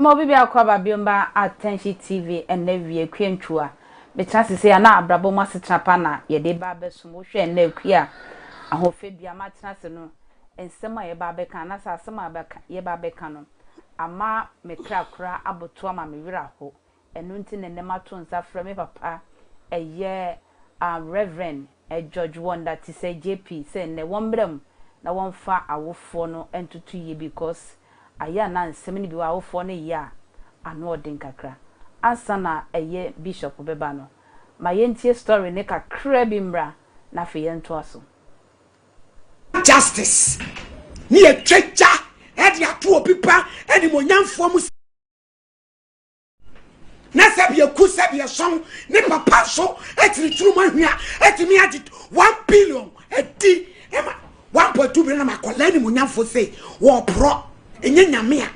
Mma obi biako aba bio mma Atɛnhye TV ɛnnɛ wie Kwiantwi a mekyena sesei a na abrabɔ mu asetena pa na yɛde reba abɛsom wo hwɛ ɛnnɛ Akua a ahofadua ama atena ase no nsɛm a yɛba abɛka anaasɛ asɛm a yɛba abɛka no ama me kra kora abotow ama me werɛ ahow Ɛno nti na nnɛ mato nsa frɛ me papa ɛyɛ a Rev. George Wonder Tisei JP sɛ nnɛ wɔmmra mu na wɔmfa awofoɔ no ntoto yie because ayɛ a na nsɛm no bi wɔ hɔ a awofoɔ no yɛ a ano ɔden kakra. Ansa na ɛyɛ Bishop bɛba no ma yɛntie story no kakra bi mmra na afei yɛntoa so. Justice ne yɛtwa gya de ato obi ba animuonyamfoɔ mu. na sɛbi eku sɛbi ɛsɔn ne papa nso ɛtiri turu mu ahwia ɛtumi agye one billion ɛdi ɛma one point two billion ɛma akɔla animunyamfo se wɔɔporɔ enye nyame a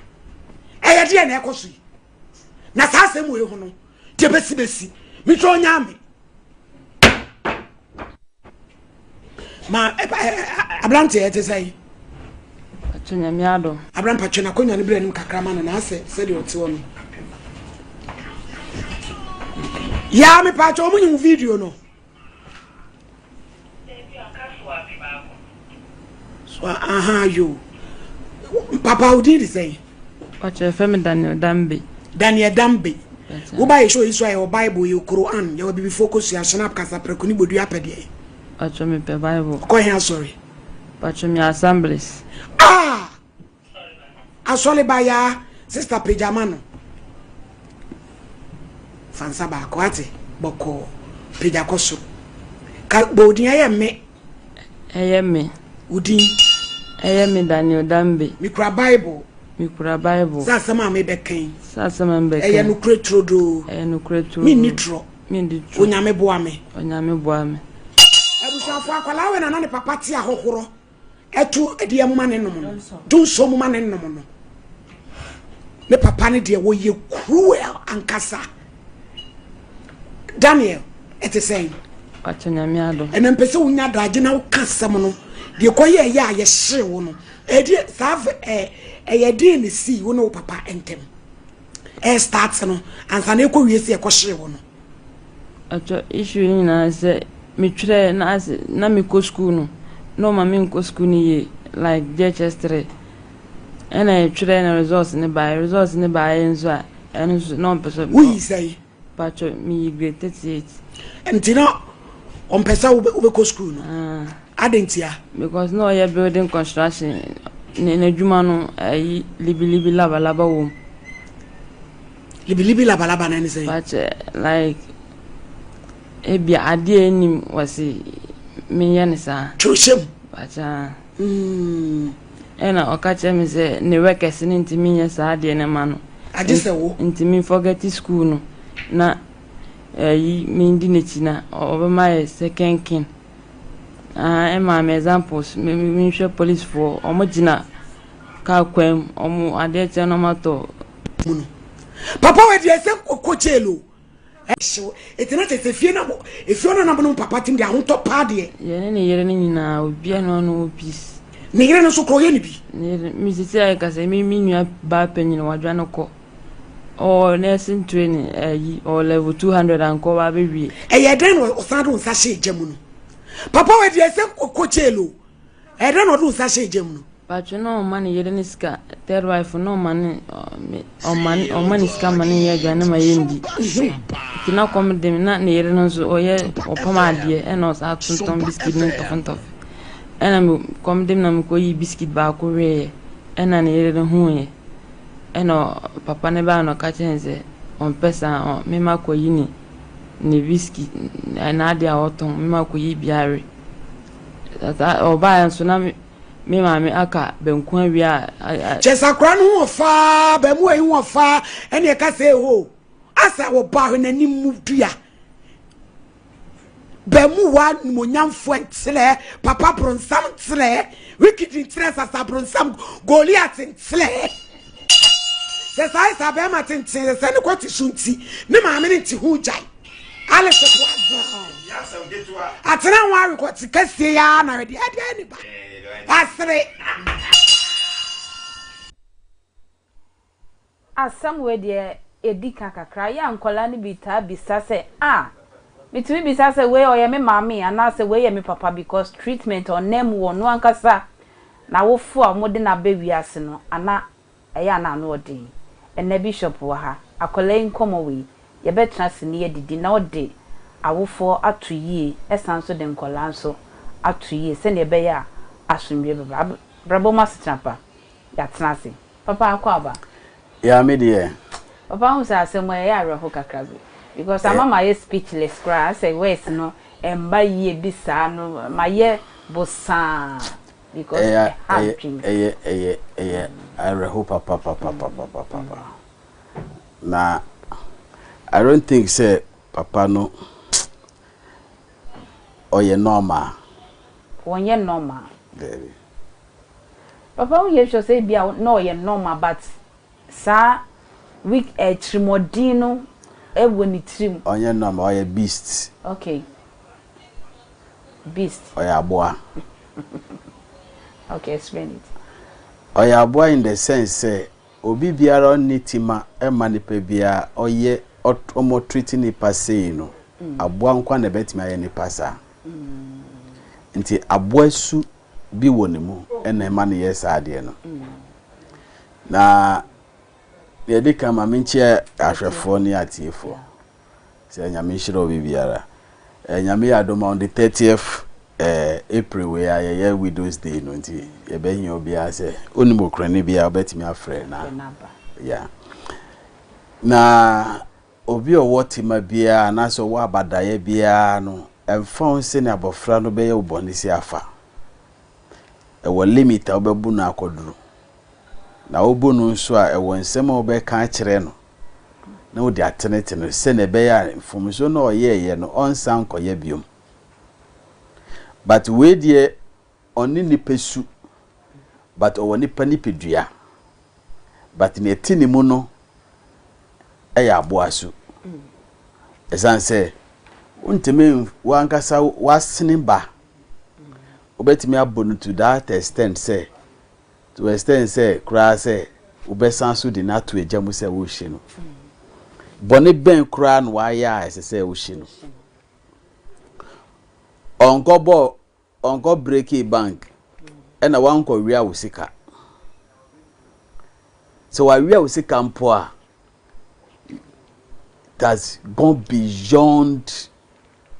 ɛyɛ deɛ na ɛkɔ so yi na saa asɛm wɔ ehu no deɛ besi besi mi twɛ ɔnyaame. ma ɛba ɛ aberanteɛ te sɛ yi. atwa nyame adom. aberampa twe n'akonnwa no berɛ anim kakra ma no na asɛ sɛdeɛ ɔte hɔ no. yaa mepaakyɛ ɔmo nyi wo video no. Dabi ɔka so afe baako. So aha yoo. Papa wo din de sɛn? Ɔkyerɛ fɛ me Daniel Dambe. Daniel Dambe. Wo ba yɛ show yi so ayɛ wɔ Bible yɛ Quran yɛ wɔ bibifoɔ kɔ sua shenap kasa prɛko ne bodua pɛ deɛ. Ɔkyerɛ me pɛ Bible. Kɔ hɛn asɔre. Ɔkyerɛ me assemblies. Ah! Asɔre ba yaa sister pagya ma no. Fa nsa baako ate bɔkɔɔ pagya kɔ soro. Ka bɔ odin ɛyɛ me. Ɛyɛ me. Odin. Ɛyɛ me Daniel Dambe. Mikura Bible. Mikura Bible. Sɛ asɛm a mebɛkan. Sɛ asɛm a mebɛkan. Ɛyɛ nokorɛ turodoo. Ɛyɛ nokorɛ turodoo. Menni torɔ. Menni torɔ. Onyame boa me. Onyame boa me. Abusuafo akwadaa wei na na ne papa te ahɔhorɔ. ɛto ɛdeɛ moma ne nom no to nsuo moma ne nom no ne papa ne deɛ wɔyɛ cruel ankasa daniel ɛte sɛn ɛna mpɛ sɛ wonya daagye na woka asɛm no deɛ kɔyɛ ɛyɛ a yɛhyere wo no ɛdeɛ saa ɛyɛ deɛ ne sii wo ne wo papa ntɛm Ɛ start no ansa na ɛkɔ wie sɛ ɛkɔ hyee wo no. Atwa issue no nyinaa sɛ me twerɛ na ase na me kɔ school no na ɔma me nkɔ school no yie like JHS three ɛna ɛtwerɛ na results no baeɛ results no baeɛ nso a ɛno nso na ɔmpɛ sɛ. Wo yi sɛn? Pacho miyi grade thirty eight. Nti na ɔmpɛ sɛ wobɛkɔ sukuu no? Adɛn ntia? Because na ɔyɛ building construction ne n'adwuma no ayi libilibi labalaba wɔ mu. Libilibi labalaba no ɛne sɛ? Pacho like ebia adeɛ a ɛnim wɔsi menyɛ ne saa. Kyerɛhyɛm. Pacho. Mm, ɛna ɔka kyerɛ me sɛ ne wɛ kɛse no nti menyɛ saa adeɛ no ma no. Agye sɛ wo. Nti me forget school no na ɛyi eh, mendi n'akyi na ɔbɛma yɛ sɛ kɛnken. Ah, ɛma me examples menhwɛ policefoɔ ɔmo gyina kaa kwan mu ɔmo adeɛ kyɛ no ɔmo atɔ. Papa wɔ deɛ sɛ kɔ jail o. Ɛhyew. Enti na kyerɛ sɛ fie na efie ɔno nam no papa tim de ahotɔ paa deɛ. Yɛne ne yere no nyinaa obiara na ɔno wɔ peace. Ne yere no nso kora ɔyɛ ne bi. Ne yere me sisi ayɛ kasa me me nua baa panyin wadwa no kɔ ɔwɔ nursing training ayi ɔwɔ level two hundred ankɔ wa abɛwie. Ɛyɛ dɛn na ɔsan de nsa hyɛ gya mu no papa wɔ deɛ sɛ kɔ jail o. Ɛdɛn na ɔde nsa hyɛɛ gya mu no? Patro na ɔma ne yere ne sika third wife na ɔma ne ɔma ne ɔma ne sika ma ne yɛ aduane ma yɛ ndi nti na kɔm de me na ne yere no nso ɔyɛ ɔpam adeɛ ɛna ɔsa tontɔn biscuit ne ntɔfe ntɔfe ɛna me kɔm de me na mekɔ yi biscuit baako weeɛ ɛna ne yere no huuɛ ɛna papa ne baa na ɔka kyerɛ ne sɛ ɔmpɛ saa ɔ mema kɔ yi ne ne biscuit ɛna adeɛ a ɔtɔn mema kɔ yi biara Ɔbaeɛ nso na me maame aka banku awia a. Kyɛ sɛ akora no ho wɔ faa, abaamuwa yi ho wɔ faa, ɛne ɛka sɛ eho. Asa wɔ ba hwɛ n'anim mu dua. Baamuwa nimonyamfoɔ nkyerɛ, papa bronsam nkyerɛ, wicked nkyerɛ, sasa bronsam, Goliath nkyerɛ. Sɛ saa Esther bɛrima tenten sɛ sɛ ne kɔte so nti ne maame ne nte ho gyae. Alice boa baa. Atena ho awe kɔte kɛseɛ yi ara na wɛde ɛdeɛ ne ba. Asere. Asɛm wei deɛ ɛdi ka kakra. Yɛ a nkwadaa no bi taa bisa sɛ ah metumi bisa sɛ wei ɔyɛ me maame anaa sɛ wei yɛ me papa because treatment ɔnam wɔ ɔno ankasa N'awofo a wɔde no aba wiase no ana ɛyɛ a na ano yɛ den. Ɛnnɛ bishop wɔ ha. Akwadaa yi nkɔmmɔ wei, yɛbɛtena ase na yɛadidi na ɔde awofoɔ ato yie ɛsane nso de nkwadaa nso ato yie sɛdeɛ ɛbɛyɛ a asomdwoeɛ bɛba. Abrabɔ mu asetena pa, yɛatena ase. Papa Akwaaba, Yeah me deɛ. Papa wohu sɛ asɛm a ɛyɛ awerɛho kakra bi because ama mayɛ speechless koraa asɛ words no ɛmba yie bi saa no mayɛ bosaa because ɛha adwene mu. Ɛyɛ ɛyɛ ɛyɛ awerɛho papapapapapapa na I don't think sɛ papa no ɔyɛ normal. Wɔnyɛ normal. Daabi. Papa wo yɛ sure sɛ ebia na ɔyɛ normal but saa weak eh tirimɔden no wɔ ne tirim. Ɔnyɛ normal ɔyɛ beast. Ok beast. Ɔyɛ aboa. Ok explain it. Ɔyɛ aboa in the sense sɛ obi biara ɔnni tima mma nipa biara ɔyɛ wɔn ɔtreat nipa sei no aboa nko ara na ɛbɛtumi ayɛ nipa saa nti aboa su bi wɔ ne mu na ɛma no yɛ saa adeɛ no. Na deɛ ɛdi kan ma menkyia ahwɛfoɔ ne atiefoɔ sɛ Nyame nhyira obi biara. Eh, Nyame yɛ adom on the 30th eh, April wei a yɛyɛ Widows Day no nti yɛbɛhia obiara sɛ wonim okurani biara wobɛtumi afrɛ na ya. Na Obi a ɔwɔ tema biara anaasɛ ɔwɔ abadaeɛ biara no, ɛmfa ho sɛnea abɔfra no bɛyɛ wo bɔne si afa, ɛwɔ limit a wobɛbu no akɔduru. Na wobu no nso a, ɛwɔ nsɛm a wobɛka akyerɛ no na wode atenetene no sɛnea ɛbɛyɛ a mfomsoɔ no a ɔyɛeɛ no ɔnsan nkɔyɛ biom. But wei deɛ Ɔnne nipasu but ɔwɔ nipa nipadua but nea ɛte ne mu no yɛ aboa su. Ɛsiane sɛ wontumi w'ankasa w'asene ba wobɛtumi abɔ no to that extent sɛ to extent sɛ koraa sɛ wobɛsan so de no ato agya mu sɛ wohye no. Bɔne bɛn koraa na wayɛ a ɛsɛ sɛ wohye no? Ɔnkɔbɔ Ɔnkɔ breakii bank ɛna wankɔ wia wo sika sɛ wawia wo sika mpo a that's gone beyond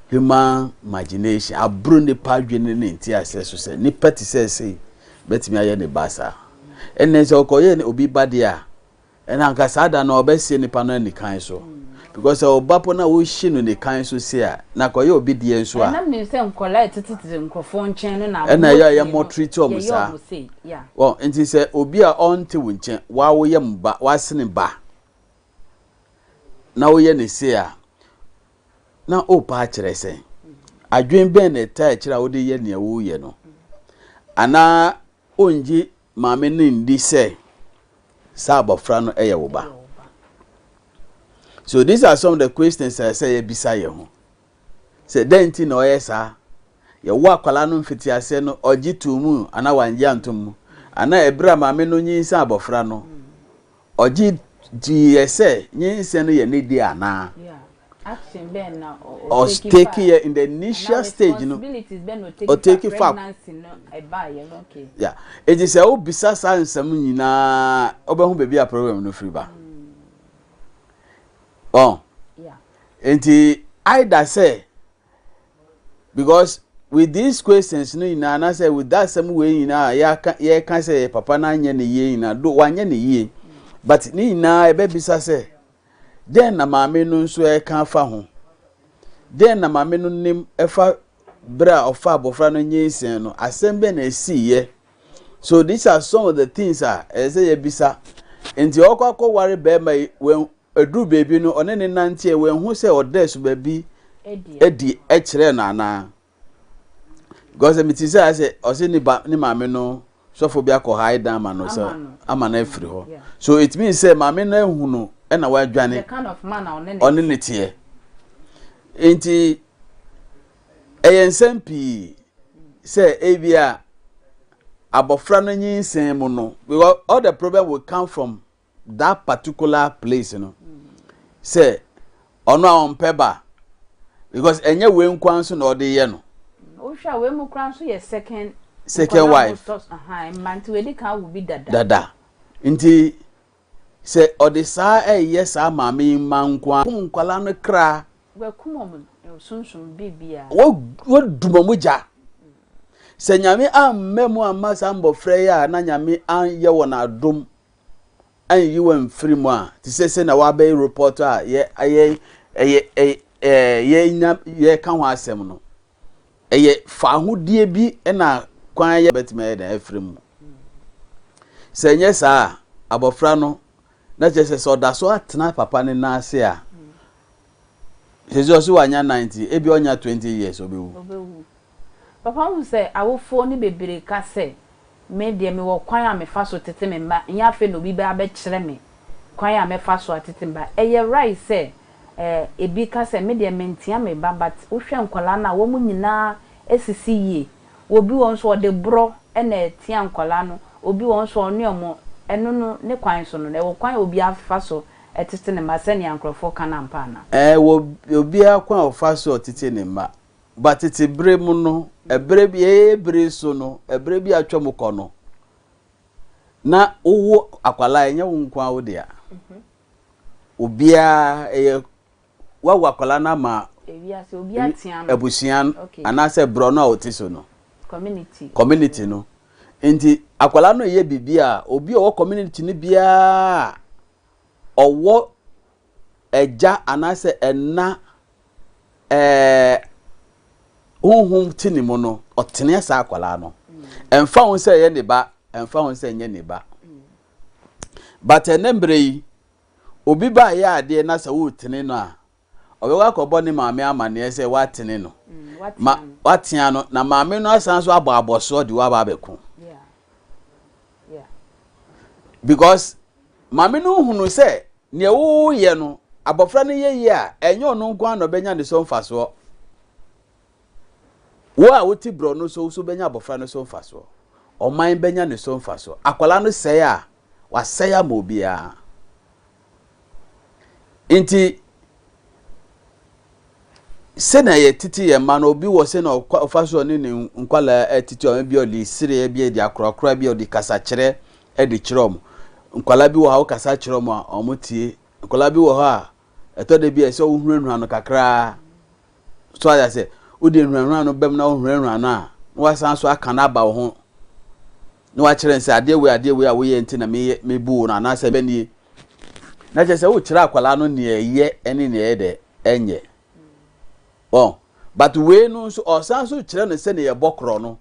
human imagination aburo nipa adwene ne nti asɛ so sɛ nipa ti sɛ ɛsɛ bɛtumi ayɛ ne ba saa ɛnna sɛ ɔkɔyɛ ne obi ba deɛ a Ɛna anka saa da no ɔbɛhye nipa no anikan so because sɛ ɔba po na wohye no nikan so sie a na akɔyɛ obi deɛ nso a. Ɛna menim sɛ nkɔlaa ɛtete tete nkorɔfoɔ nkyɛn no na ɛna ɛyɛ a yɛ mo treat ɔmo saa wɔn nti sɛ obi a ɔnte wo nkyɛn wawo yɛ mo ba wasene ba na woyɛ ne sei a na opa akyerɛ sɛn adwen bɛn na ɛtaa akyire a wode yɛ nea woyɛ no anaa ongye maame no nni sɛ saa abɔfra no yɛ wo ba. So these are some of the questions a ɛsɛ yɛbisa yɛn ho. Sɛ dɛn nti na ɔyɛ saa? Yɛwɔ akwadaa no mfitiaseɛ no ɔgye too mu anaa wangye antom mu? Anaa ɛberɛ a maame no nyinsa abɔfra no Ɔgye diiɛ sɛ nyinsɛn no yɛ ne dea anaa? Ɔtekeeɛ in the initial stage no, ɔtake fa. Enti sɛ wobisa saa nsɛm nyinaa wobɛhu baabi a problem no firi ba. Enti either sɛ Because with these questions no nyinaa anaasɛ with that asɛm wei nyinaa a yɛaka yɛka sɛ yɛ papa no anyɛ ne yie nyinaa do wanyɛ ne yie but ne nyinaa ɛbɛbisa sɛ dɛn na maame no nso ɛka afa ho dɛn na maame no nim ɛfa berɛ a ɔfa abɔfra no nyinsɛn no asɛm bɛn na ɛsiiɛ So these are some of the things a ɛsɛ sɛ yɛbisa. Nti ɔkɔ akɔware barima yi, wɔn aduru baabi no, ɔne ne nanteɛ, wɔahu sɛ ɔda asuba bi adi kyerɛ no anaa? Because sɛ mete sɛ sɛ ɔse ne ba ne maame no sɔfo bi akɔ ha dan ama no sɛ ama no afiri hɔ. So it means sɛ maame no ahu no ɛna wadwane ɔne ne teɛ. Nti Ɛyɛ nsɛm pii sɛ ebia abɔfra no nyinsɛn mu no, because all the problem will come from that particular place no, sɛ ɔno a ɔmpɛ ba, because ɛnyɛ wei nkoa nso na ɔde yɛ no. Wohwɛ a wei mu koraa nso yɛ second second wife. Dada. Dada. Nti. Sɛ ɔde saa ɛyɛ saa maame yi mma nko ara. Kum nkwadaa no kra. Wakum wɔn sunsum biribiara. Wadum wɔn gya. Sɛ Nyame amma mu amma saa mmɔfra yi a na Nyame anyɛ wɔn adom anyi wɔn mfiri mu a, te sɛ sɛ na wabɛyɛ report a yɛ yɛ yɛ yɛ yɛ yɛka ho asɛm no. Ɛyɛ faahodie bi na kwan a yɛbɛtumi ayɛ dɛn afiri mu. Sɛ ɛnyɛ saa a, abɔfra no, na kyerɛ sɛ sɛ ɔda so atena papa no nan ase a, sɛ ɔsi wanya nan nti, ebi ɔnya twenty years ɔbɛwu. Ɔbɛwu. Papa hu sɛ awofoɔ no bebree ka sɛ Me deɛ, mewɔ kwan a mefa so tete me mma, ɛnyɛ afei na obi bɛba abɛkyerɛ me kwan a mɛfa so atete me mma. Ɛyɛ right sɛ ebi ka sɛ, Me deɛ, mentea me ba, but wohwɛ nkwadaa no a, wɔn nyinaa asisi yie. Obi wɔ hɔ nso a, ɔde borɔ na ɛtea nkwadaa no. Obi wɔ hɔ nso a, ɔne wɔn. Ɛno no, ne kwan so no, ɛwɔ kwan a obiara fa so tete ne mma sɛnea nkurɔfoɔ ka no ampa anaa? Ɛwɔ obiara kwan a ɔfa so tete ne mma. Ba tete bere mu no, bere bi, ɛyɛ yɛn bere yi so no, bere bi a atwam kɔ no, na wowo akwadaa ɛnyɛ wo nko ara wo dea. Obiara ɛyɛ wawo akwadaa no ama abusua no anaasɛ borɔno a ɔte so no. Community. Community no. Nti akwadaa no yɛ biribi a obi a ɔwɔ community no biara ɔwɔ Agya anaasɛ ɛna ɛɛ honhom te ne mu no ɔteneɛ saa akwadaa no ɛnfa ho sɛ ɛyɛ ne ba ɛnfa ho sɛ ɛnyɛ ne ba but ɛnɛ mmerɛ yi obi ba yɛ adeɛ na sɛ wotene no a ɔbɛkɔ akɔbɔ ne maame amaneɛ sɛ watene no mm, ma watea no na maame no asan so abɔ abɔsoɔ de waba abɛko Because maame no nhunu sɛ nea woyɛ no abɔfra no yɛ yie a ɛnyɛ ɔno nko ara na ɔbɛnya ne so mfasoɔ. Wo a wote borɔ no so nso bɛnya abɔfra no so mfasoɔ. Ɔman bɛnya ne so mfasoɔ. Akwadaa no sɛe a, wasɛe ama obiara. Enti, sɛnea yɛtete yɛn mma no, obi wɔ sɛnea ɔfa so ɔne ne nkwadaa tete wɔn, ebi ɔde sereɛ, ebi ɔde akorakora, ebi ɔde kasakyerɛ de kyerɛ wɔn. Nkwadaa bi wɔ hɔ a wokasa kyerɛ wɔn a, wɔtie. Nkwadaa bi wɔ hɔ a, ɛtɔ da bi a ɛsɛ wohunahuna no kakraa. So ayɛ sɛ wode nhunahuna no bɛm na wohunahuna no a, na wasan so aka no aba wo ho. na wakyerɛ no sɛ adeɛ wei adeɛ wei a woyɛ nti na meyɛ mebu wo no anaasɛ ɛbɛ nie na kyerɛ sɛ wokyerɛ akwadaa no nea ɛyɛ ne nea ɛyɛ dɛ ɛnyɛ wɔn but wei no nso ɔsan so kyerɛ no sɛnea yɛbɔ korɔ no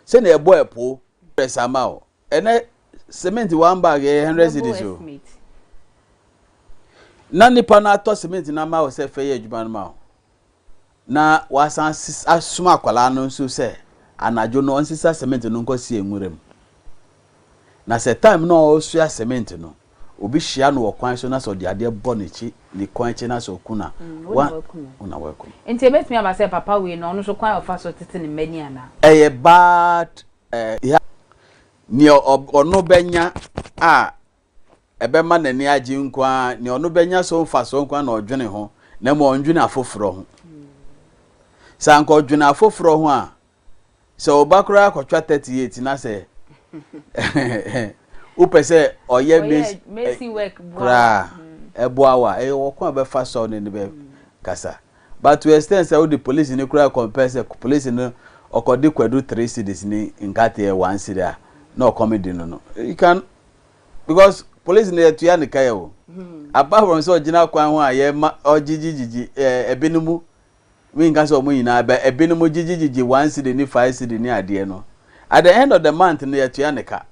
sɛnea ɛbɔ ɛpo ɛsɛ ama o ɛnɛ cement one bag ɛyɛ hundred cedis o na nipa no atɔ cement no ama o sɛ fɛ yɛ adwuma no ma o. Na wɔasan ases asoma akwadaa no nso sɛ anadwo no ɔnsesa cement no nkɔsie nwura mu. Na sɛ time no a ɔresoa cement no, obi hyia no wɔ kwan so na sɛ ɔde adeɛ bɔ n'akyi, ne kɔn akyi na sɛ ɔku no a, wo na woaku no. wo na woaku no. Nti ɛbɛtumi aba sɛ papa wei no, ɔno nso kwan a ɔfa so tete ne mma ni anaa? Ɛyɛ bad eh, yeah. Nea ɔb ɔno bɛnya a ɛbɛma n'ani agye nko ara, nea ɔno bɛnya so mfasoɔ nko ara na ɔdwene ho, na mmom ɔndwene afoforɔ ho. Sɛ anka ɔdwene afoforɔ ho a, sɛ ɔba koraa kɔtwa 38 na sɛ wopɛ sɛ ɔyɛ mesi work koraa ɛboa wo a, ɛyɛ wɔ kwan a bɛfa sɔw no ne bɛkasa. But to extend sɛ wode polisi no koraa compare sɛ polisi no ɔkɔde kwadu three cities ne nkate yɛ one city a na ɔkɔm de no no, you can Because police no yɛtua ne ka yɛ o. Apart from sɛ ɔgyina kwan ho a yɛma ɔgyigyigyigyi eh, ebinom, menka sɛ ɔmo nyinaa bɛ, ebinom gyigyigyigyi one cedi ne five cedi ne adeɛ no, at the end of the month no yɛtua ne ka.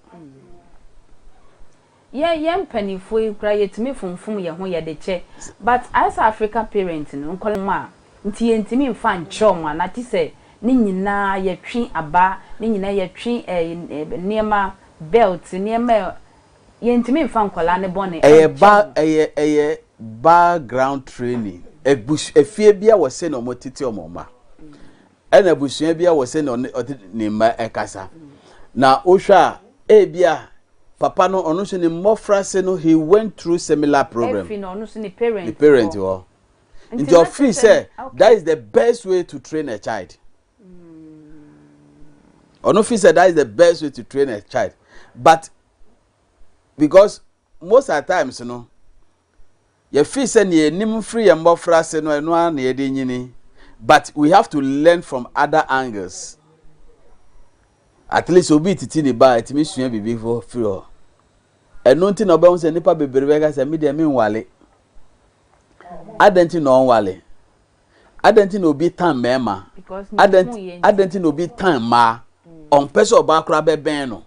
Yɛ yɛn mpaninfoɔ yi koraa yɛtumi fomfom yɛn ho yɛde kyɛ but ayɛ sɛ African parent no nkwadaa mu a Nti yɛntumi mfa nkyerɛw mo anaa te sɛ ne nyinaa yɛtwe aba ne nyinaa yɛtwe nneɛma belt nneɛma a yɛntumi mfa nkwadaa no bɔne Ɛyɛ ba nkyerɛ mo. ɛyɛ ɛyɛ baa ground training abus efie bia wɔ sɛnea ɔmo tete ɔmo mma ɛna abusua bia wɔ sɛnea ɔne ɔde ne mma ɛkasa na wohwɛ a ebia papa no ɔno nso ne mmɔfra se no he went through similar problem Ɛfi na ɔno nso ne parent ne parent hɔ. hɔ Nti ɔfeel sɛ that is the best way to train a child. Ɔno feel sɛ that is the best way to train a child. But because most at times no yɛfeel sɛ nea yɛnim firi yɛn mmɔfra ase no ɛno ara na yɛde nyini. But we have to learn from other angles. At least obi titi ne ba a ɛtumi sua biribi firi hɔ. Ɛno nti na ɔbɛhu sɛ nnipa bebree bɛka sɛ me deɛ menwale. Adɛn nti na ɔnwale? Adɛn nti na obi tan mmarima? Adɛn nti na obi tan mmaa? Ɔmpɛ sɛ ɔbaa koraa bɛbɛn no.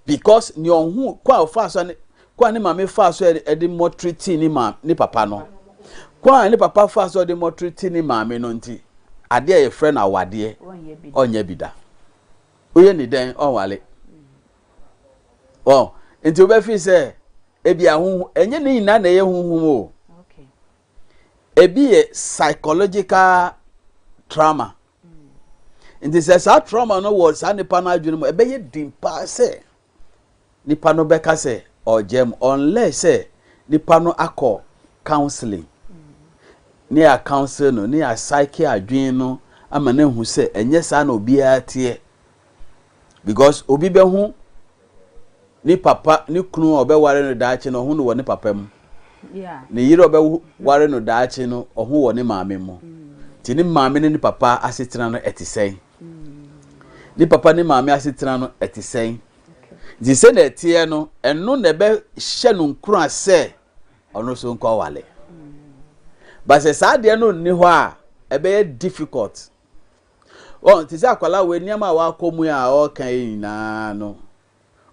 Because nea ɔho kɔ a ɔfaa so ne kɔ a ne maame faa so de mmɔtiri tii ne maame ne papa no. Kɔ a ne papa faa so de mmɔtiri tii ne maame no nti, adeɛ a yɛfrɛ no awadeɛ ɔnyɛ bi da. Woyɛ ni dɛn ɔnwale? wɔn nti wobɛfi sɛ ebi ahohu ɛnyɛ ne nyinaa na ɛyɛ huhum o ebi yɛ psychological trauma mm. nti sɛ saa trauma no wɔ saa nipa no adwene mu ɛbɛyɛ den paa sɛ nipa no bɛka sɛ ɔgya mu unless sɛ nipa no akɔ counseling mm. ne yɛ counsel no ne yɛ psyche adwene no ama no ehu sɛ ɛnyɛ saa na obiara teɛ Because obi bɛho ne papa ne kunu a ɔbɛware no daakye no ɔho no wɔ ne papa mu. Ne yere a ɔbɛware no daakye no ɔho wɔ ne maame mu. Nti ne maame ne ne papa asetena no ɛte sɛn? Ne papa ne maame asetena no ɛte sɛn? Nti sɛ na ɛteɛ no ɛno na ɛbɛhyɛ no nkura sɛ ɔno nso nkɔ wale. Ba sɛ saa adeɛ no nni hɔ a ɛbɛyɛ difficult Wɔn, te sɛ akwadaa wei nneɛma a wakɔ mu yi a ɔreka yi nyinaa no,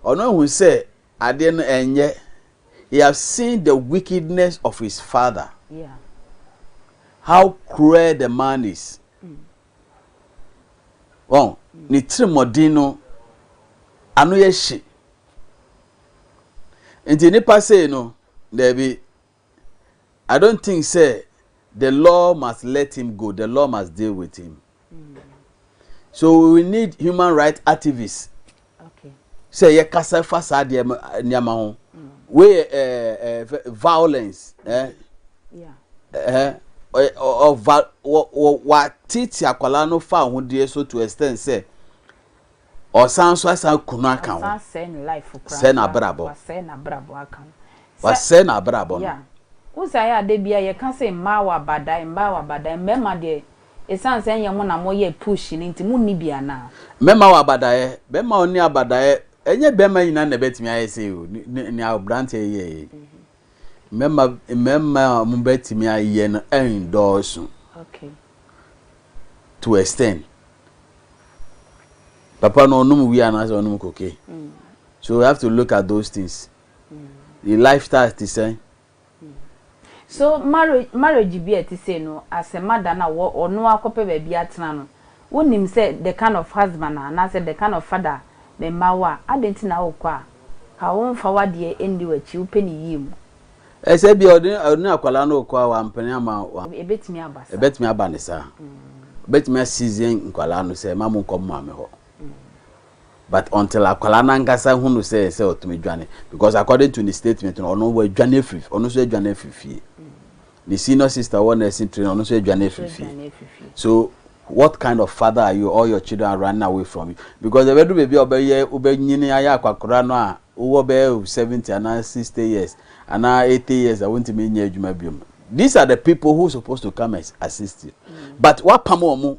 ɔno ahu sɛ adeɛ no ɛnyɛ. He has seen the wickedness of his father. Yeah. How cruel the man is. Mm. Wɔn, ne tirimɔden no, ano yɛ hye. Nti nipa sei no, daabi, I don't think sɛ the law must let him go, the law must deal with him. So we need human rights activists sɛ yɛ kasa fa saa deɛ nneɛma ho. Wei yɛ ɛɛ ɛɛ violence ɛɛ ɛɛ ɔva wɔ wɔ wɔatete akwadaa no fa ahodeɛ so to extend sɛ. Ɔsan nso asan aku no aka ho. Wasɛe n'abrabɔ. Wasɛe n'abrabɔ aka ho. Wasɛe n'abrabɔ no. Yeah. Wohu sɛ ayɛ a da biara yɛka sɛ mmaa wɔ abadae, mmaa wɔ abadae. Mmarima deɛ, ɛsiane sɛ ɛnyɛ mo na moyɛ push no nti, monni bi anaa? Mmarima wɔ abadaeɛ. Barima a ɔnni abadaeɛ, ɛnyɛ barima nyinaa na ɛbɛtumi ayɛ sei o, nea aberanteɛ yi yɛeɛ yi. mmarima mmarima a wɔbɛtumi ayɛ no nnɔɔso okay. to extend papa no ɔnom wia anaasɛ ɔnom koke mm. so we have to look at those things mm. the lifestyle ti sɛn. Mm. so marriage marriage bi a ɛte sɛ no asɛmada no a ɔno akɔpɛ baabi atena no Wonim sɛ the kind of husband a anaasɛ the kind of father a me mma wɔ a, adɛn nti na wokɔ a? Ka wo mfa w'adeɛ nni w'akyi, wopɛ ne yie mu. Ɛyɛ sɛ ebia ɔne ɔne akwadaa no rekɔ a wampene amma wa. Ɛbɛtumi aba saa. Ɛbɛtumi aba no saa. Ɔbɛtumi asizen nkwadaa no sɛ mma monkɔ mo maame hɔ but until akwadaa no ankasa hunu sɛ ɛyɛ sɛ ɔtumi dwane because according to ne statement no ɔno wadwane afiri ɔno nso adwane afiri fie. Ne senior sister wɔ nursing training ɔno nso adwane afiri fie so what kind of father are you all your children are running away from you because ɛbɛdu baabi a ɔbɛyɛ wobɛnyini ayɛ akwakora no a wowɔ bɛyɛ seventy anaa sixty years anaa eighty years a wontumi nyɛ adwuma biom these are the people who supposed to come and assist you mm. but wapam wɔn mo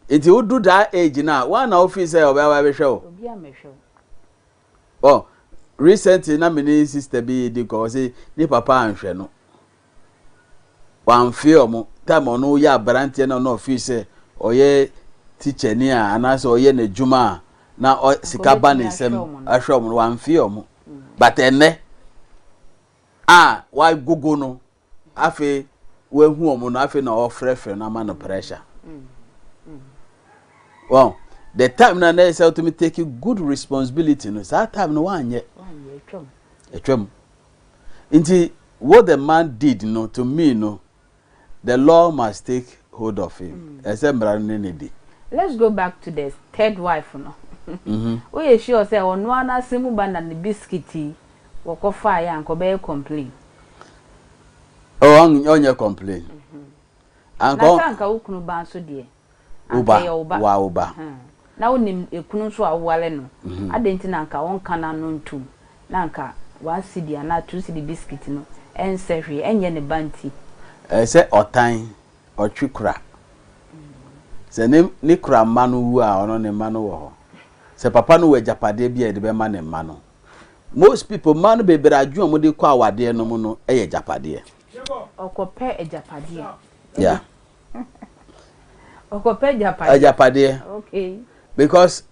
nti wodu that age no a wɔn na wofii sɛ ɔbɛwa bɛhwɛ o Oh, recently na me ne sister bi redi nkɔmmɔ, ɔse ne papa anhwɛ no. Wamfee wɔn. Time a ɔno yɛ aberanteɛ na ɔno ɔfeel sɛ ɔyɛ tikyani a anaasɛ ɔyɛ n'adwuma a na ɔ sika ba ne nsam ahwɛ wɔn no, wamfee wɔn. But ɛnnɛ a wagogo no, Afei wahu wɔn no afei na ɔfrɛfrɛ no ama no pressure wɔn the time na na ɛsɛ ɔtumi take good responsibility no saa time no wanyɛ atwam nti what the man did no to me no the law must take hold of him ɛsɛ mmara no ne ne di. let's go back to the third wife no. Mm-hmm. woyɛ sure sɛ ɔno ara n'asɛm mu ba na ne bisikiti Wɔkɔ faa yɛ anka ɔbɛyɛ complain. Oh ɔn ɔnyɛ complain. Anka. Na sɛ anka wo kunu ba nso deɛ? Anka ɛyɛ wo ba. Wa wo ba. Ahaa. Na wo nim ekunu nso a wo ware no. Adɛn nti na anka ɔnka n'ano ntum na anka one cedi anaa two cedi biscuit no ɛnsɛ hwee ɛnyɛ ne ba nti. Ɛyɛ sɛ ɔtan, ɔtwe kura. Sɛ ne ne kura mma no wu a ɔno ne mma no wɔ hɔ. Sɛ papa no wɔ agyapadeɛ bi a yɛde bɛma ne mma no. Most people, mmaa no bebree adwene a wɔn de kɔ awadeɛ no mu no yɛ agyapadeɛ. Ɔkɔ pɛ agyapadeɛ. Yeah. Ɔkɔ pɛ agyapadeɛ. Agyapadeɛ. Okay. Because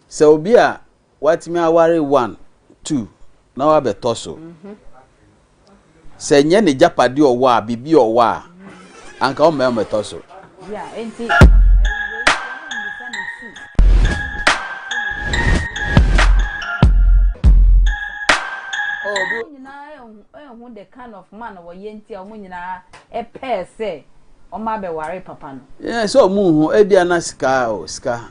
sɛ obi a watumi aware one two na wabɛtɔ so. Mm -hmm. Sɛ ɛnyɛ n'agyapadeɛ a ɔwɔ a, biribi a ɔwɔ a, anka ɔmma ɛmmɛtɔ so. Yeah, enti no, ɛyi the kind of man wɔyɛ nti a wɔn nyinaa ɛpɛɛ sɛ wɔn abɛware papa no. Yeah, sɛ wɔn ho ebi ana sika o sika.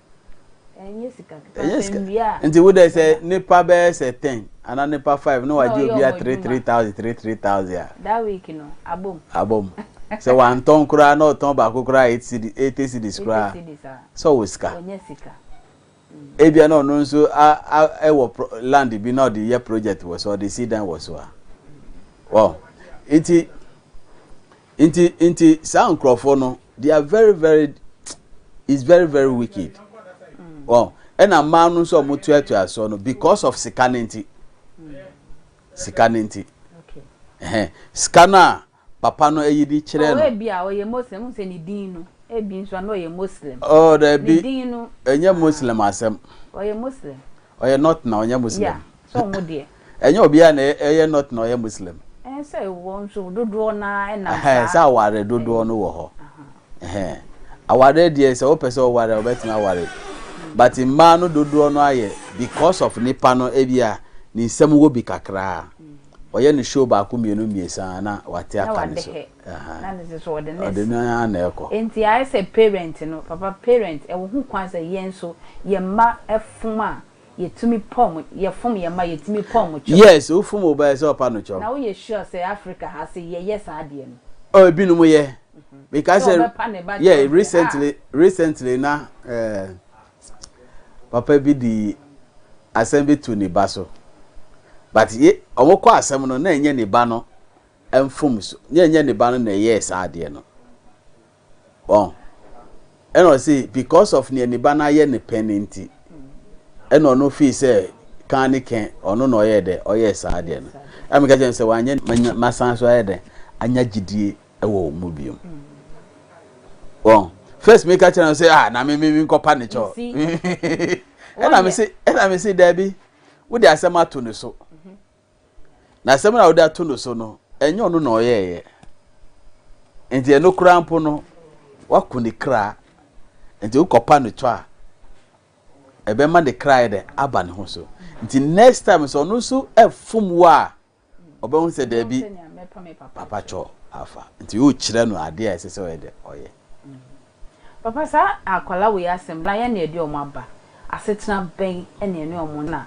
ɛnyɛ sika kika ɛnyɛ sika nti wo dɛ sɛ nipa bɛyɛ sɛ ten ana nipa five na wagye obi a three three thousand three three thousand a. that week no abom. abom sɛ wantɔn koraa na ɔtɔn baako koraa eight cedis eighty cedis koraa sɛ ɔwɔ sika. ɔnyɛ sika. ebia na ɔno nso a a ɛwɔ land bi na ɔde yɛ project wɔ so ɔde si dan wɔ so a wɔn nti. Nti nti saa nkurɔfoɔ no they are very very is very very wicked wɔn ɛna mmaa no nso a wɔn tuatua soɔ no because of sika ne nti sika ne nti ɛhɛn sika no a papa no ayi de kyerɛ no. ɔwɔ bi a ɔyɛ muslim n sɛ ne din no ebi nso ano ɔyɛ muslim. ɔɔ oh, dɛbi ne din no ɛnyɛ muslim asɛm. ɔyɛ muslim. ɔyɛ not na ɔnyɛ muslim. ya sɛ ɔmo deɛ. Ɛnyɛ obiara na ɛyɛ not na ɔyɛ Muslim. Ɛyɛ sɛ wɔn nso dodoɔ no ara nam saa. Ɛhɛn, sɛ aware dodoɔ no wɔ hɔ. Ɛhɛn, awareɛ deɛ sɛ wopɛ sɛ ɔware a wobɛtumi aware but mmaa no dodoɔ no ayɛ because of nipa no ebia ne nsam wɔ bi kakra a ɔyɛ no show baako mmienu mmiɛnsa a na wate aka ne so. Ɔde no ara na ɛkɔ. Nti ayɛ sɛ parent no, papa parent ɛwɔ ho kwan sɛ yɛn nso yɛn mma fom a yɛtumi pɔ mo yɛfom yɛn mma yɛtumi pɔ wɔn kyɛw. Yes wofom wo ba ɛsɛ ɔpa no kyɛw. Na woyɛ sure sɛ Africa ha se yɛyɛ saa deɛ no. Oh ebinom yɛ because. Sɛ ɔbɛpa ne ba kyɛw deɛ ah. Yeah recently recently na eh papa bi de asɛm bi to ne ba so but ye wɔn kɔ asɛm no na ɛnyɛ ne ba no mfomso na ɛnyɛ ne ba no na ɛyɛɛ saa adeɛ no. Wɔn. Ɛna ɔse because of nea ne ba no ayɛ no pɛ no nti, ɛna ɔno feel sɛ kan ne kɛn ɔno na ɔyɛɛ dɛn, ɔyɛɛ saa adeɛ no. Ɛna meka kyerɛɛ no sɛ wanyɛ manya masan so ayɛ dɛn, anya gyidie wɔ wo mu biom. Wɔn. First meka kyerɛɛ no sɛ ah na me me menkɔpa ne kyɛ o. Ɛna mese ɛna mese daabi, wode asɛm ato ne so. Na asɛm no a wode ato no so no, ɛnyɛ ɔno na ɔyɛeɛ. Nti ɛno koraa mpo no, wako ne kra. Nti wokɔpa no tɔ a, ɛbɛma ne kra yɛ dɛ aba ne ho so. Nti next time sɛ ɔno nso fom wo a, ɔbɛhu sɛ daabi, papa kyɔ afa. Nti wokyerɛ no adeɛ a ɛsɛ sɛ ɔyɛ dɛ ɔyɛ. Papa saa akwadaa wei asɛm na yɛn na ɛde wɔn aba, asetena bɛn na ɛne wɔn nna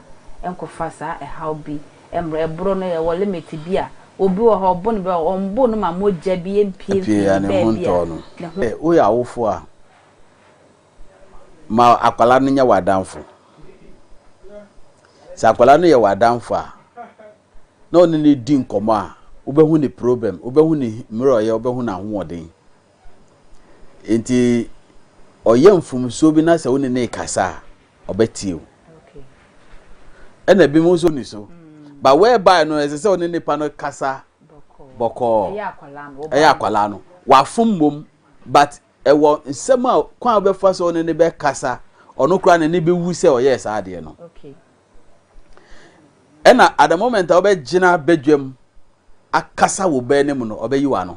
nkɔfa saa ɛhaw bi mmrɛ, ɛboro no ɛwɔ limit bi a, obi wɔ hɔ ɔbo no bɛ wɔn bo no ma mogya bi mpue mfiri baabi a ne ho. Woyɛ awofoɔ a, ma akwadaa no nyɛ w'adamfo. Sɛ akwadaa no yɛ w'adamfo a, na wo ne no di nkɔmmɔ a, wobɛhu ne problem, wobɛhu ne mmerɛwyɛ, wobɛhu n'ahoɔden. Enti ɔyɛ mfomsoɔ bi na sɛ wo ne no rekasa a, ɔbɛtie wo. Ɛna ebinom nso ni so. But whereby no, ɛsɛ sɛ wo ne nipa no kasa bɔkɔɔ. Ɛyɛ akwadaa no. Wafom mmom, but ɛwɔ nsɛm a kwan a wobɛfa so ne no bɛkasa, ɔno koraa n'ani bɛwu sɛ ɔyɛɛ saa adeɛ no. Ɛna at the moment a wobɛgyina badwam akasa wo bɛ no mu no, ɔbɛyi w'ano.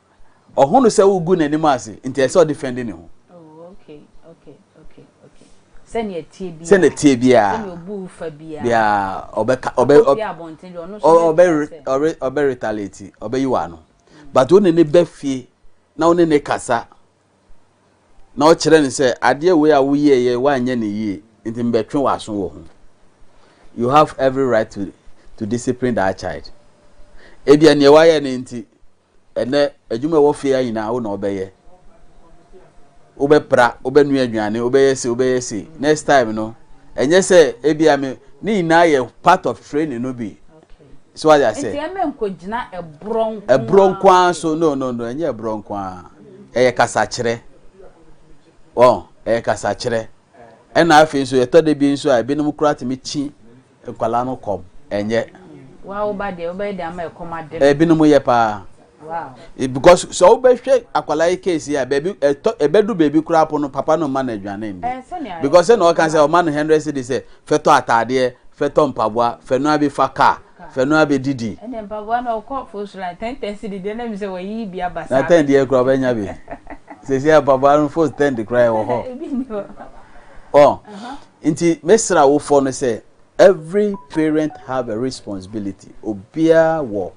Ɔho no sɛ wogu n'anim ase, nti ɛsɛ sɛ ɔde fɛn di ne ho. Sɛnea ɛteɛ biara. Sɛnea ɛteɛ biara. Sɛnea obu refa biara. Biara ɔbɛka ɔbɛ ɔbɛ abɔnten deɛ ɔno nso ɔbɛ ɔbɛ ɔbɛ retaliate ɔbɛyi w'ano. But wo ne ne bɛ fie na wo ne ne kasa. na ɔkyerɛ no sɛ, Adeɛ wei a woyɛeɛ yi, woanyɛ no yie, nti mebɛtwe w'aso wɔ ho. You have every right to to discipline that child. Ebia nea wayɛ no nti, ɛnɛ adwuma ɛwɔ fie ha nyinaa wo na wobɛyɛ. Wobɛpra, wobɛnoa aduane, wobɛyɛ se, wobɛyɛ se. Next time no, ɛnyɛ sɛ ebia me ne nyinaa yɛ part of training no bi. So why I say? Nti ɛmɛ nko gyina ɛborɔ nko. Ɛborɔ nko ara so no no no ɛnyɛ ɛborɔ nko ara ɛyɛ kasakyerɛ wɔn ɛyɛ kasakyerɛ ɛna afei nso yɛtɔ de bi nso a ebinom kura tumi kyi nkwadaa no kɔm ɛnyɛ. Wa wo ba deɛ wo bɛyɛ deɛ ama ɛkɔm ade no. Ebinom yɛ paa Because sɛ wobɛhwɛ akwadaa yi case a baabi ɛtɔ ɛbɛdu baabi koraa po no papa no mma no aduane ndi because sɛ na ɔka sɛ ɔma no hundred cedi sɛ fɛtɔ ataadeɛ fɛtɔ mpaboa fɛnoa bi fa car fɛnoa bi didi. ɛnna mpaboa na ɔkɔ fosra ten ten cedi deɛ na mi sɛ wɔyi bi aba saa. na ten deɛ koraa ɔbɛnya bi sɛsi a mpaboa no fos ten de koraa ɛwɔ hɔ. ebi ni hɔ. ɔ nti mesra wofɔ no sɛ every parent have a responsibility obiara wɔ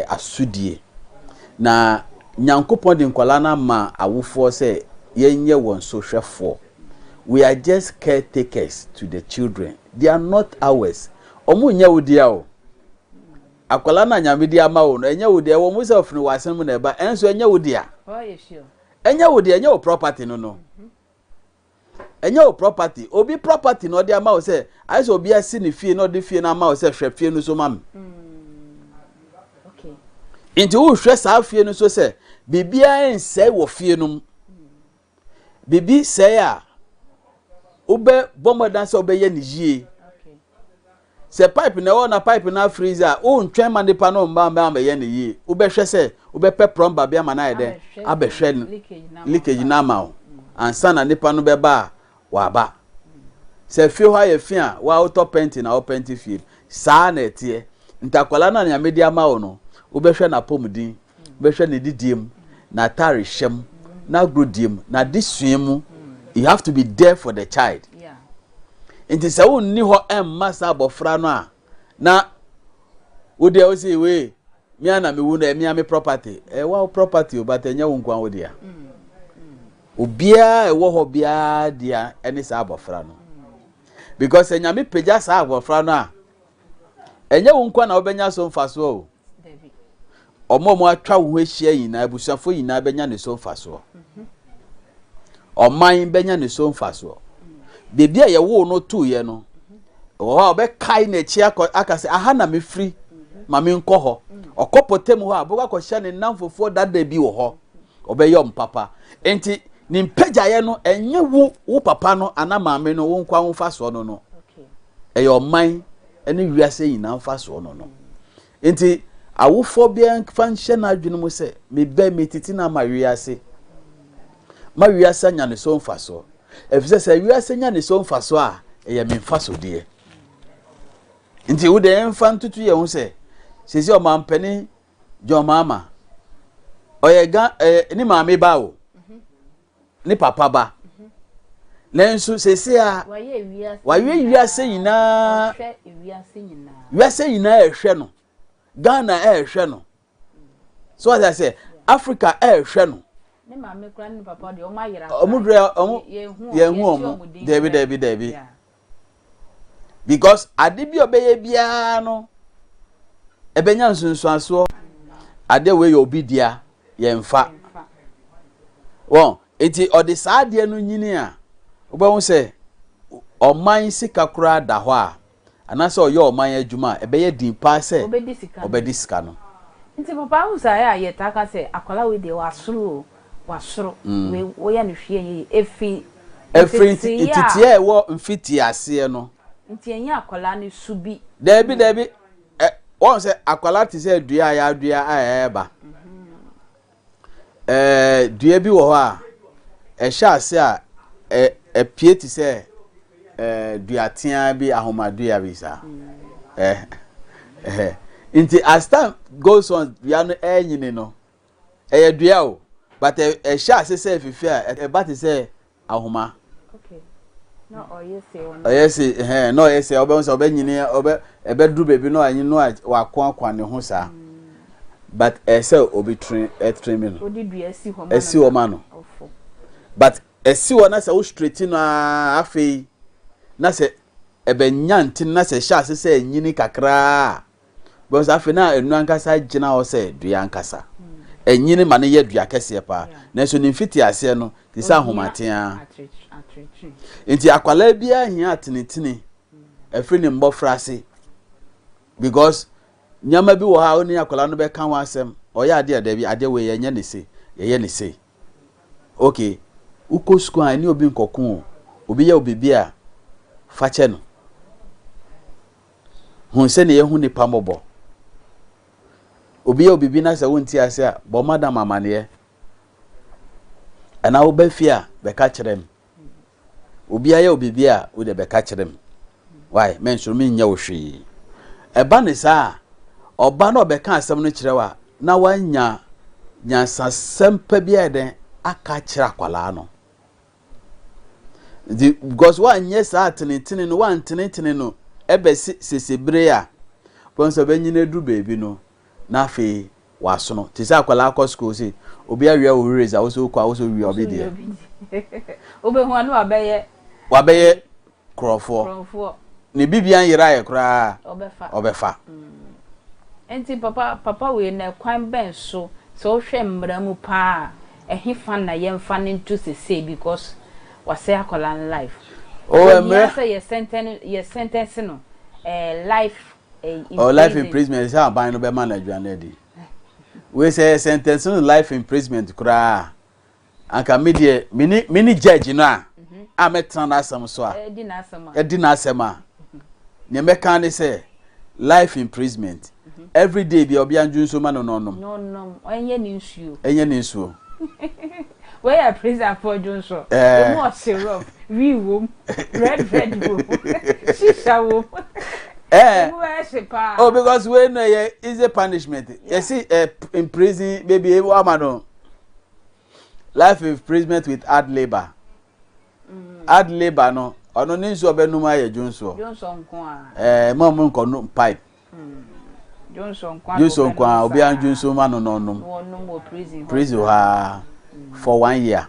asodie. Na Nyankopɔn de nkwadaa no ama awofoɔ sɛ yɛnyɛ wɔn so hwɛfoɔ. We are just caretakers to the children, they are not ours. Wɔn nyɛ wo dea o. Akwadaa no a Nyame de ama wo no, ɛnyɛ wo dea. Ɛwɔ mu sɛ ɔfene w'asene mu na ɛba, ɛnso ɛnyɛ wo dea. Ɛnyɛ wo dea, ɛnyɛ wo property no no. ɛnyɛ wo property obi property na ɔde ama wo sɛ ayɛ sɛ obi asi ne fie na ɔde fie no ama wo sɛ hwɛ fie no so ma me mm. nti wohwɛ saa fie no so sɛ biribiara nsɛe wɔ fie no mu biribi sɛe a wobɛbɔ mmɔden sɛ wobɛyɛ no yie Sɛ pipe na ɛwɔ hɔ na pipe no afreeze a, worentwɛn ma nnipa no mma mmɛyɛ no yie. Wobɛhwɛ sɛ wobɛpɛ plɔmba bi ama no ayɛ dɛn? Abɛhwɛ leakage no ama wo ansa na nnipa no bɛba a wɔaba. Sɛ fie hɔ ayɛ fi a, wo ara wotɔ pɛnti na wopɛnti fie no. Saa na ɛteɛ. Nti akwadaa no a nea mede ama wo no, wobɛhwɛ n'apɔmuden bɛhwɛ n'adidie mu n'atare hyɛ mu n'agorodie mu n'adesua mu you have to be there for the child nti sɛ wonni hɔ mma saa abɔfra no a na wodeɛ wo sɛ wei mea na mewu no ɛmea me property ɛwa wo property o but ɛnyɛ wo nkoa wo dea obiara ɛwɔ hɔ biara dea ɛne saa abɔfra no because sɛ nyame pagya saa abɔfra no a ɛnyɛ wo nkoa na wobɛnya so mfasoɔ o Wɔn a wɔatwa wo ho ahyia nyinaa, abusuafoɔ nyinaa bɛnya ne so mfasoɔ. Ɔman bɛnya ne so mfasoɔ. Baabi a yɛwoo no toeɛ no, wɔ hɔ a ɔbɛkae n'akyi aka sɛ aha na mefiri ma menkɔ hɔ ɔkɔ pɔtam hɔ a bɛkɔ akɔhyɛ ne nnamfofoɔ dada bi wɔ hɔ ɔbɛyɛ mpapa nti ne mpagyaeɛ no ɛnyɛ wo wo papa no ana maame no wo nkwa wo mfasoɔ no no ɛyɛ ɔman ne wiase nyinaa mfasoɔ no no. Enti awofoɔ biara mfa nhyɛ n'adwene mu sɛ, me ba yi, metiti no ama wiase. Ma wiase anya ne so mfasoɔ. Ɛfiri sɛ sɛ wiase nya ne so mfasoɔ a, ɛyɛ me mfasodeɛ. Nti wo deɛ yɛmfa ntoto yɛn ho sɛ, sɛsi ɔmampanin John Mahama, ɔyɛ ga ɛyɛ ne maame ba o. ne papa ba. Nanso seesei a wayɛ wiase nyinaa, wiase nyinaa ɛhwɛ no, Ghana ɛhwɛ no, so ɔsɛ sɛ Africa ɛhwɛ no. Ne maame kura ne papa deɛ ɔmo ayera. Ɔmo dura ɔmo yɛn hu ɔmo. Dɛbi dɛbi dɛbi. Because ade bi a ɔbɛyɛ biara no, ɛbɛnya nsunsuansoɔ. Adeɛ wei yɛ obi dea, yɛmfa. Wɔn nti ɔde saa adeɛ no nyini a, wobɛhu sɛ ɔman sika koraa da hɔ a, anaasɛ ɔyɛ ɔman adwuma a, ɛbɛyɛ din paa sɛ ɔbɛdi sika no. Nti papa wohu saa yɛ a yɛtaa ka sɛ akwadaa wei deɛ wasoro o. W'asoro wei woyɛ no hwee ɛnyɛ yie ɛfiri nteteeɛ a. Ɛfiri nteteeɛ a ɛwɔ mfitiiɛ aseɛ no. Nti ɛnyɛ akwadaa no su bi. Daabi daabi ɛ wɔn sɛ akwadaa te sɛ dua a yɛadua a ɛreba. Ɛɛ dua bi wɔ hɔ a ɛhyɛ ase a ɛ ɛpie te sɛ ɛɛ dua tea bi ahomadua bi saa. Ɛɛ ɛhɛ nti as time goes on dua no ɛrenyini no. Ɛyɛ dua o, but ɛhyɛ ase sɛ ɛfifɛ a, ɛba te sɛ ahoma. Okay. Na ɔyɛ se ɔno. Ɔyɛ se ɛhɛn, na ɔyɛ se ɔbɛn sɛ ɔbɛnyini ɔbɛ ɛbɛduru baabi na ɔanyi no a wakoakoa ne ho saa. But ɛsɛ obi train ɛtrain mi no. Odi dua si hɔ ma no. Ɛsi hɔ ma no. Ɔfo. But ɛsi hɔ na sɛ wo straighten no a afei na sɛ ɛbɛnya nti na sɛ ɛhyɛ ase sɛ ɛnyini kakra a. Because afei na ɛnu ankasa gyina hɔ sɛ dua ankasa. Ɛnyini ma no yɛ dua kɛseɛ paa. Nanso ne mfiti aseɛ no, te sɛ ahomaten ara. Nti akwadaa biara hia atenetene ɛfiri ne mmɔfra ase. Because nneɛma bi wɔ hɔ a wo ne akwadaa no bɛka ho asɛm. Ɔyɛ adeɛ a dabi adeɛ wei yɛnyɛ ne sei, yɛyɛ ne sei. Okay, wokɔ sukuu a ɛne obi nkɔko o. Obi yɛ wo biribi a, fa kyɛ no. Hu sɛnea yɛahu nnipa mmɔbɔ. Obi yɛ wo biribi na sɛ wonte ase a, bɔ madam amanneɛ. Anaa woba fie a, bɛka kyerɛ me. Obi ayɛ wo biribi a, wo deɛ bɛka kyerɛ me. Why? Mensoro menyɛ wo hwee. Ɛba ne saa a, ɔba na ɔbɛka asɛm no kyerɛ wo a, na woanya nyansasɛm pa bi ayɛ dɛn aka akyerɛ akwadaa no. Nti, because woanyɛ saa atenetene no, woantenetene no bɛse sese bere a wobɛhu sɛ ɔbɛnyin aduru baabi no, na afei wasono. Te sɛ akwadaa kɔ sukuu se obi awia wo race a, wo nso wokɔ a, wo nso wia obi deɛ. Wobɛhu a na wabɛyɛ. Wabɛyɛ korɔmfoɔ. Ne biribiara nyeraeɛ koraa a, ɔbɛfa. Enti papa, papa wei no, ɛkwan bɛn so, sɛ wohwɛ mmara mu pa ara a, ɛhefa na yɛmfa no nto seesei because wasɛe akwadaa no life? Oh, mmerɛ. Ohia sɛ yɛ sɛntɛn, yɛ sɛntɛnse no ɛɛ life ɛɛ imprisonment. Oh, life imprisonment, ɛsɛ sɛ aban no bɛma no aduane adi. Wei sɛ yɛ sɛntɛnse no life imprisonment koraa a, anka me deɛ mene mene judge no a a mɛtena n'asɛm so a ɛdi n'asɛm a nea mɛka ne sɛ life imprisonment every day bia ɔbea ndwo nsuo ma no na ɔnom ɛnyɛ ne nsuo ɛnyɛ ne nsuo wei yɛ presafoɔ dwo nso ɛmu ɔse rob wi wom red red wom shisha wom ɛmu ɛhye paa oh because wei no yɛ easy punishment yɛsi eh, in prison baby ama no life imprisonment with hard labour mm. hard labour no ɔno ne nsuo ɔbɛnum ayɛ dwonsoɔ ɛɛ mo a mo nkɔ no pipe mm. dwonso nko a obiara dwonso ma no na ɔnom prison hɔ a mm. for one year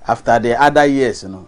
after the other years no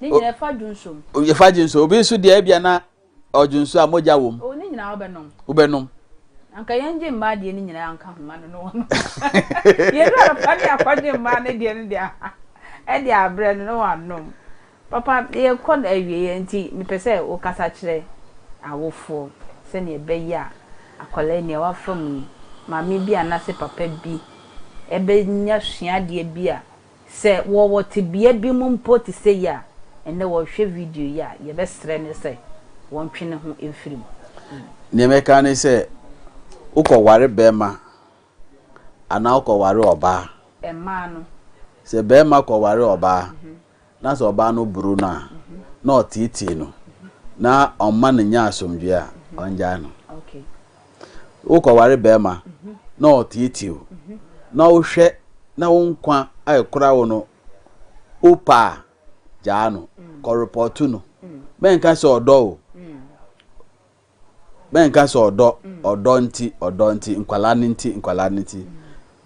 Ne nyinaa fa dwonso mu. O, yɛfa dwonso. Obi nso deɛ ebia na ɔdwonso a mogya wɔ mu. O, ne nyinaa wobɛnom. Wobɛnom. Anka yɛngye mmaa deɛ no nyinaa nka ho ma no ne wɔnom. Yɛn wura no fa ne akɔgye mmaa no deɛ no deɛ de abrɛ no na wɔanom. Papa, yɛrekɔ awieɛ enti mepɛ sɛ wokasa kyerɛ awofoɔ sɛdeɛ ɛbɛyɛ a akwadaa yi nea wafa mu yi, maame bi anaasɛ papa bi bɛnya suadeɛ bi a Sɛ wɔwɔ tebea bi mu mpo te sɛ yi a, ɛnnɛ wɔrehwɛ video yi a, yɛbɛsrɛ no sɛ wɔntwe ne ho mfiri mu. Nea mɛka ne sɛ, wokɔware barima anaa wokɔware ɔbaa? Mmaa no. Sɛ barima kɔware ɔbaa, na sɛ ɔbaa no boro no a, na ɔteetee no, na ɔmma no nnya asomdwoe a, ɔngyae no. Worekɔware barima na ɔteetee wo, na wohwɛ na wo nkwa a ɛkora wo no wopɛ a, gyaa no. Kɔrepɔɔto no. Mɛnka sɛ ɔdɔ o. Mɛnka sɛ ɔdɔ, ɔdɔ nti, ɔdɔ nti, nkwadaa no nti, nkwadaa no nti.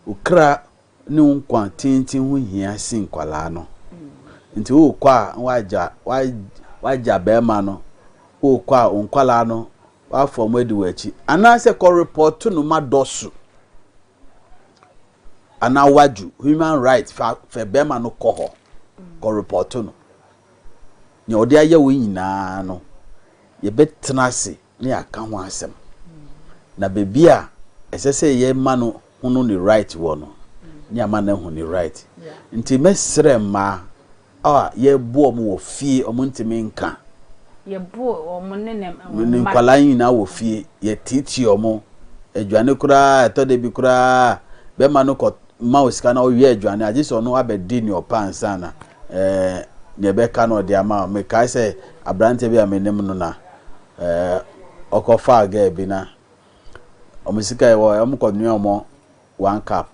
Wo kra ne wo nkwa tenten ho hia sen nkwadaa no. Nti worekɔ a na w'agya w'agya barima no worekɔ a wo nkwadaa no w'afa wɔn adi w'akyi anaasɛ kɔ report no ma dɔso anaa w'adwo human right fa fɛ barima no kɔ hɔ kɔ report no nea ɔde ayɛ wo nyinaa no yɛbɛtena ase ne aka ho asɛm. Na baabi a ɛsɛ sɛ yɛma no hunu ne right wɔ no, ne ama no ahu ne right. Nti mɛsrɛ mmaa a yɛbo wɔn wɔ fie, wɔn ntumi nka. Yɛbo wɔn ne ne mma. Ne nkwadaa nyinaa wɔ fie, yɛteetee wɔn. Aduane koraa, ɛtɔ da bi koraa, bɛrima no kɔ ma wo sika na ɔwea aduane a, gye sɛ ɔno abɛdi nea ɔpɛ ansa na Ɛɛ, nea ɛbɛka no ɔde ama wo. Mekae sɛ aberanteɛ bi a menim no na ɛɛ, ɔkɔfaa girl bi na wɔn sika a ɛwɔ hɔ, wɔkɔnoaa wɔn one cup.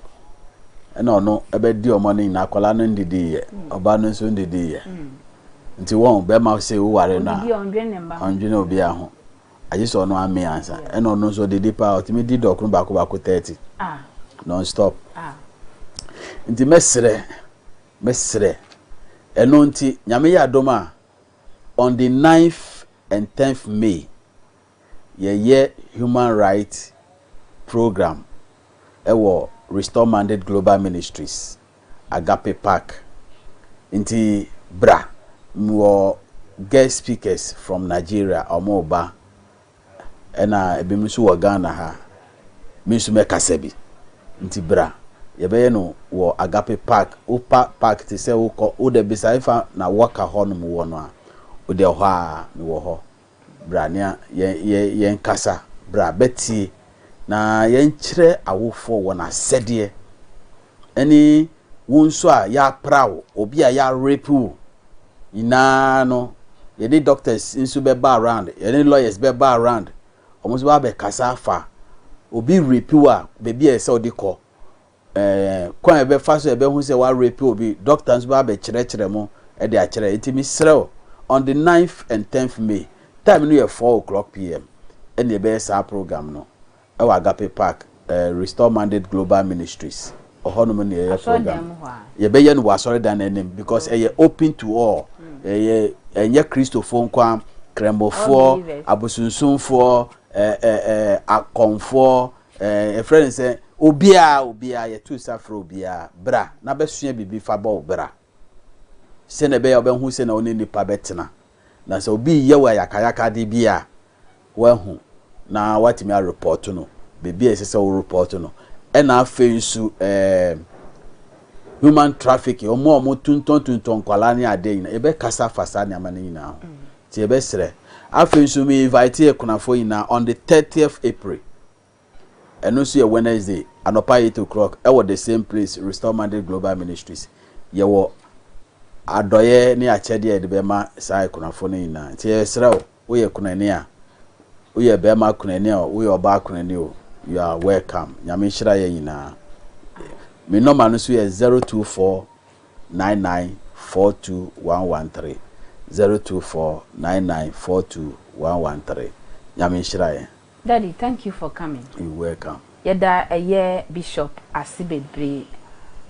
Ɛna ɔno bɛdi wɔn no nyinaa. Akwadaa no ndidiiɛ, ɔbaa no nso ndidiiɛ. Nti wɔn, barima sei woware no a, ɔndwene obiara ho. Agye sɛ ɔno amee ansa. Ɛna ɔno nso ɔdidi paa, ɔtumi di dɔkono baako baako thirty, non-stop. Nti mɛsrɛ Mesrɛ. Ɛno nti, Nyame yɛ adom a, on the ninth and tenth May, yɛyɛ Human Rights Program wɔ Restore Mandate Global Ministries, Agape Park. Nti bra. Mewɔ guest speakers from Nigeria, wɔreba. Ɛna ebinom nso wɔ Ghana ha. Me nso mɛkasa bi. Nti bra. Yɛbɛyɛ no wɔ Agape Park. Wopa park te sɛ wokɔ, wode bisa efa na wɔka hɔ nom wɔ no a, wode ɛhɔ a mewɔ hɔ. Bra na yɛn yɛn yɛnkasa. Bra bɛtie na yɛnkyerɛ awofoɔ wɔn asɛdeɛ, ɛne wo nso a yɛapra wo, obi a yɛarepe wo nyinaa no, yɛde doctors nso bɛba around, yɛde lawyers bɛba around, wɔn nso bɛba abɛkasa afa obi repe wo a, baabi a ɛsɛ sɛ wode kɔ, kwan a yɛbɛfa so a yɛbɛhu sɛ wɔarepe obi, dɔkta nso bɛba abɛkyerɛkyerɛ mo de akyerɛ. Enti mesrɛ wo, on the ninth and tenth May, time no yɛ four o'clock PM, ɛna yɛbɛyɛ saa program no wɔ Agape Park, Restore Mandate Global Ministries, ɛhɔnom na yɛyɛ program no. Yɛbɛyɛ no wɔ asɔredan no anim because ɛyɛ open to all, ɛyɛ, ɛnyɛ Kristofoɔ nko ara, Krammofoɔ, abosonsomfoɔ, ɛ, ɛ, ɛ, akɔmfoɔ, Ɛɛ, yɛfrɛ no sɛ obiara, obiara, yɛto nsa frɛ obiara, bra na bɛsua biribi fa bɔ wo bra, sɛnea ɛbɛyɛ a wobɛhu sɛnea wo ne nnipa bɛtena, na sɛ obi reyɛ wo ayakayakade bi a, woahu na woatumi arepɔɔto no baabi a ɛsɛ sɛ worepɔɔto no. Ɛna afei nso ɛɛ, human trafficking, wɔn a wɔtontɔntontɔn nkwadaa ne adeɛ nyinaa, yɛbɛkasa afa saa nneɛma no nyinaa ho. Nti yɛbɛsrɛ. Afei nso me invite akunafoɔ nyinaa on the thirtieth April, ɛno nso yɛ Wednesday, anɔpa eight o'clock wɔ the same place, Restore Mandate Global Ministries. Yɛwɔ adɔeɛ ne akyɛdeɛ a yɛde bɛma saa akunafoɔ no nyinaa. Nti yɛsrɛ wo, woyɛ kunani a, woyɛ barima kunani o, woyɛ ɔbaa kunani o, you are welcome. Nyame nhyira yɛn nyinaa. Me nɔma no nso yɛ zero two four. nine nine four two one one three, zero two four nine nine four two one one three, Nyame nhyira yɛn. Daddy thank you for coming. You welcome. Yɛda ɛyɛ Bishop ase bebree.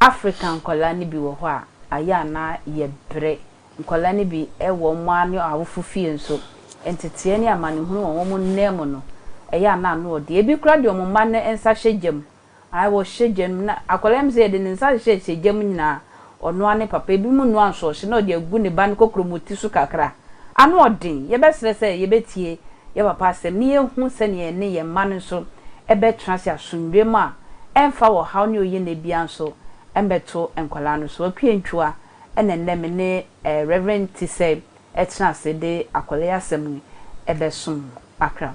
Africa nkwadaa no bi wɔ hɔ a, ayɛ a na yɛbrɛ. Nkwadaa no bi wɔ wɔn ara ne wɔn awofo fie nso. Nteteɛ ne amanehunu wɔ wɔn nan mu no, ɛyɛ a na ano yɛ den. Ebi koraa de wɔn mma no nsa hyɛ gya mu Ae wɔhyɛ gya no mu na akwadaa no pɛ sɛ yɛde ne nsa hyɛ hyɛ gya mu nyinaa ɔnoa ne papa ebi mu noa nso ɔhyɛ na ɔde agu ne ba no kokromoti so kakra ano ɔden yɛbɛsrɛ sɛ yɛbɛtie yɛ papa asɛm ne yɛhu sɛnea yɛne yɛn mma no nso bɛtena ase asomdwoeɛ mu a ɛmfa wɔ haw ne oyɛnɛ biara nso mmɛto nkwadaa no so Waku Antwua ɛna nnɛ me ne Rev Tisɛe ɛtena ase de akwadaa yi asɛm yi ɛbɛsom mo akra.